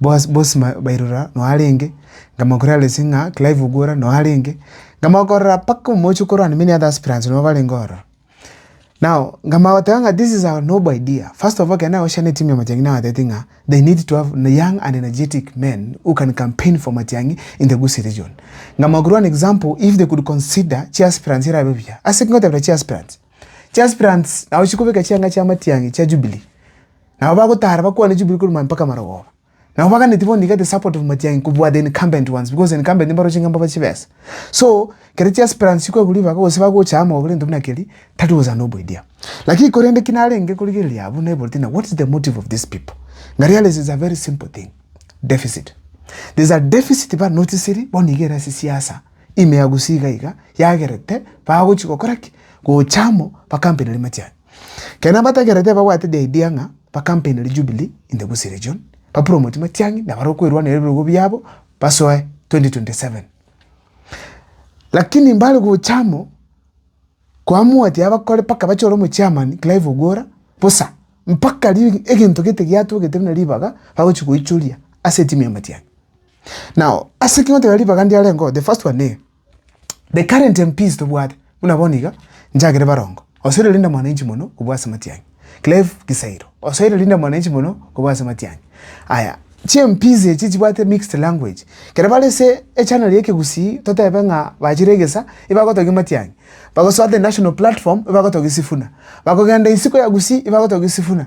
Boas bonsi ba bairora noo arenge, nkamanya kore Alice ng'a Clive Ogwora noo arenge, nkamanya korora mpaka omochie okorwana many other aspirants nabo barenge ororo. Now nkamanya goteba ng'a this is our noble idea, first of all ekero nagochorana etimu ya matiang'i nabatebeti ng'a they need to have young and energetic men who can campaign for matiang'i in the Gusii region. Nkamanya korwa an example if they could consider chi aspirants erabe buya. Ase ki ngotebera chi aspirants? Chi aspirants nagochia kobeka chianga chia matiang'i chia Jubilee. Nabo bagotara bakwane chiburi korwa mpaka marogoba. Nabo baganeti bono iga the support of matiangi kobua the incumbent ones because incumbent nimbaro chinga mbaba chibesa. So kere chia aspirants chikwegwa ribaga gose bagocha amo oborento buna keri tari gocha noboidia. Lakini korende ki narenge korigereria abwo naibore tina what is the motive of these people? Nga realize is a very simple thing. Deficit. There is a deficit ba noticeri bono iga ere ase siasa ime ya gusii iga iga yagerete bagochi gokora ki? Gocha amo ba campaign ere matiangi. Kera nabatagerete ababwate the idea ng'a ba campaign Jubilee in the Gusii region, ba promote Matiang'i na barwo kwerwanera ebirogo biabo basoe 2027. Lakini mbare gocha amo koamua ati abakore paka bachore omo chairman Clive Ogwora bosa mpaka egento gete giatogete buna ribaga bagochi goichoria ase etimu ya Matiang'i. Now ase ekero ngoteba ribaga ndiarenge oo the first one. The current MPs tobwate buna bono iga njagere barongo osoire Linda Mwananchi mono kobua ase Matiang'i Clive Kisairo osoire Linda Mwananchi mono kobua ase Matiang'i aya chi MPs echi chibwate mixed language ekero bare ase echannel ya ekegusii totebe ng'a bachire egesa ibagotogia Matiang'i bagosoa the national platform ibagotogia Sifuna bakogenda isiko ya Gusii ibagotogia Sifuna.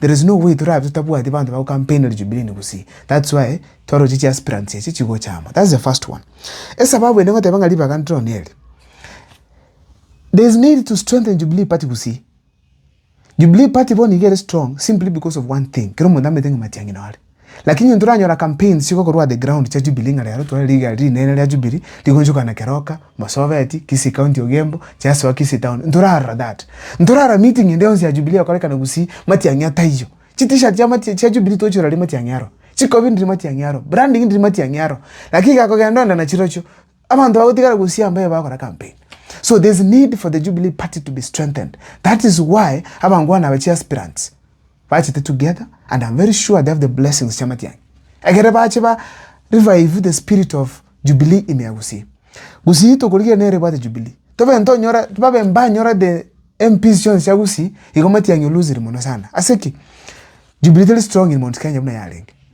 There is no way torabe totabwati banto bago campaigner jubilee ene gusii. That's why twaroche chi aspirants echi chigochama. That's the first one. Esababu ende ngoteba ng'a ribaga ndiro neri. There is need to strengthen Jubilee Party gusii. Jubilee Party bono iga ere strong simply because of one thing. Kero omonto amete ng'a Matiang'i nore. Lakini inwe ntoranyora campaigns chigo korwa the ground chia Jubilee ng'a rero tware rigari rinene ria Jubilee rigonchokana Keroka, Marsabit, Kisii County Ogembo, Chasoa, Kisii Town. Ntorarora that. Ntorarora meeting ende yonsi ya Jubilee egokorekana gusii Matiang'i ataiyo. Chi T-shirt chia Mati chia Jubilee twochora riria Matiang'i aro. Chikobi ndiri Matiang'i aro. Branding ndiri Matiang'i aro. Lakini gekogenda onde na chirochio abanto bagotigara gusii ambaye bagokora campaign. So there's need for the Jubilee party to be strengthened. That is why abangwana aba chi aspirants. Bachete together and am very sure they have the blessings chiamatianyi ekere bache ba revive the spirit of jubilee in Yagusii. Gusii tokorigia nere ebwate jubilee. Tobe ntonyora babe mbanyora the MPs chionsi chia Gusii igo matiangi o loseri mono sana. Ase ki? Jubilee teri strong in Mount Kenya buna yarenge.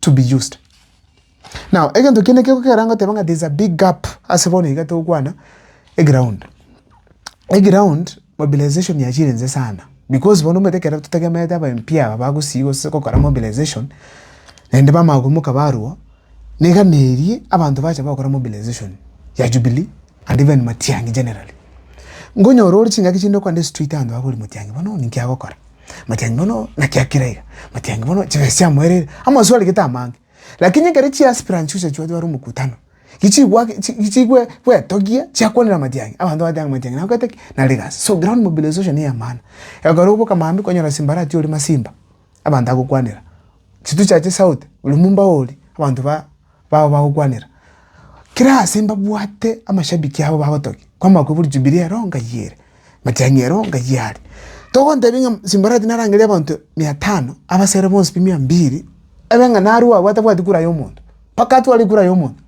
to be used. Now, egento kende keko kera ngoteba ng'a there's a big gap ase bono iga togokwana eground. Eground mobilization yachirense sana because bono omanyete ekero totegemerete aba MP aba bagosii gose gokora mobilization naende bamanya koimoka barwo, niga na eeri abanto bacha bagokora mobilization ya Jubilee. And even Matiang'i generally. Ngonyora ore chingaki chinde okwana ase street abanto bakore Matiang'i bono ninki agokora? Matiang'i bono naki akira iga? Matiang'i bono chibesa chiamoereire? Amaswali gete amange. Lakini ekero chi aspirant chionsi achia goteba ore omokutano, gichigwaki chi gichigwe gwetogia chiakwanera Matiang'i. Abanto bagotebi ng'a Matiang'i nagokete ki? Nare egasi. So ground mobilization neyamana. Ekero oboka maambia okonyora Simbarati ore Masimba. abanto agokwanera chitusi chiaye chisauti ore mombao oria abanto ba bao bagokwanera kera ase mbabwate amashabiki abo bagotokia kwama kobua jubilee ero ngai ere matiang'i ero ngai are togontebia ng'a simbarati narang'eria abanto mia tano abasere bonsi pi mia mbiri ebe ng'a narue abwo atabwati kura ya omonto mpaka atware kura ya omonto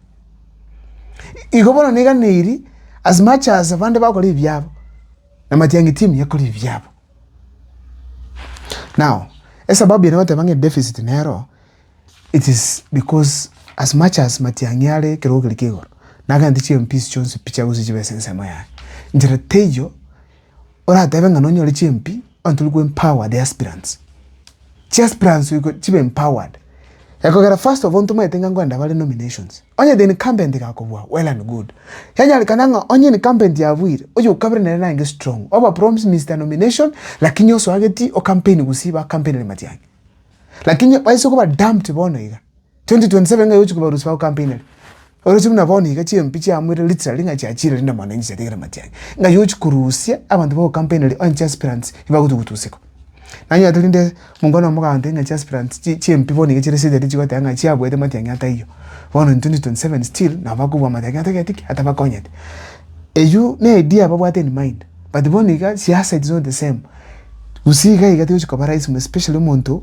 igo bono neganeiri as much as abande bakora ebiabo na matiang'i team yakora ebiabo. Now, esababu ya nagoteba ng'a edeficit nero, it is because as much as matiang'i are ekerogo keria kia igoro, nagento chimpiece chionsi pi chiagosuka chibe ase ensemo yaye. Inchera teiyo, oratebe ng'a nonyore chimpi onye tori ko empower the aspirants. Chi aspirants oiko chibe empowered. Ekogera first of all ntomaete ng'a ngwenda bare nominations. Onye the incumbent igakobua, well and good. Yanyarekana ng'a onye incumbent yabuire, oyo okabere nere naye nge strong. Oba promise Mister Nomination, lakini osoageti o campaign gusii ba campaign ere matiangi. Lakini baise koba dumped bono iga. 2027 ng'ai ogochia kobarusia bao kampeinari? Oroche buna bono iga chimpi chiamoire Litra ring'a chiachiire rinde mwane inche chiatigire matianyi. Ng'ai ogochia korusia abanto bao kampeinari onye chiaspirants nibagochia gotusieka? Nanyora tari nde monga one omogaambe ng'a chiaspirants chi chimpi bono iga chire serious chigoteba ng'a chiabuete matiang'i ataiyo. Bono in 2027 still nabo bakobua matiang'i atageti ki? Atabakonyeti. Eyio ne idea babwate in mind but bono iga siasa it is not the same. Gusii iga iga tigochia koba rahisi especially omonto.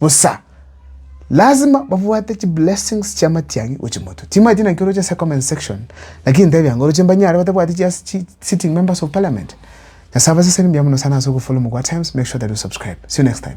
Bosa lazima babwate chi blessings chia matiang'i gochia motwe. Timaeti naki oroche ase comment section, lakini ntebi anga oroche mbanyare batabwati chia chi sitting members of parliament. Nyasae abaseseni mbuya mono sana ase ogofollow Mogwaa Times, make sure that you subscribe. See you next time.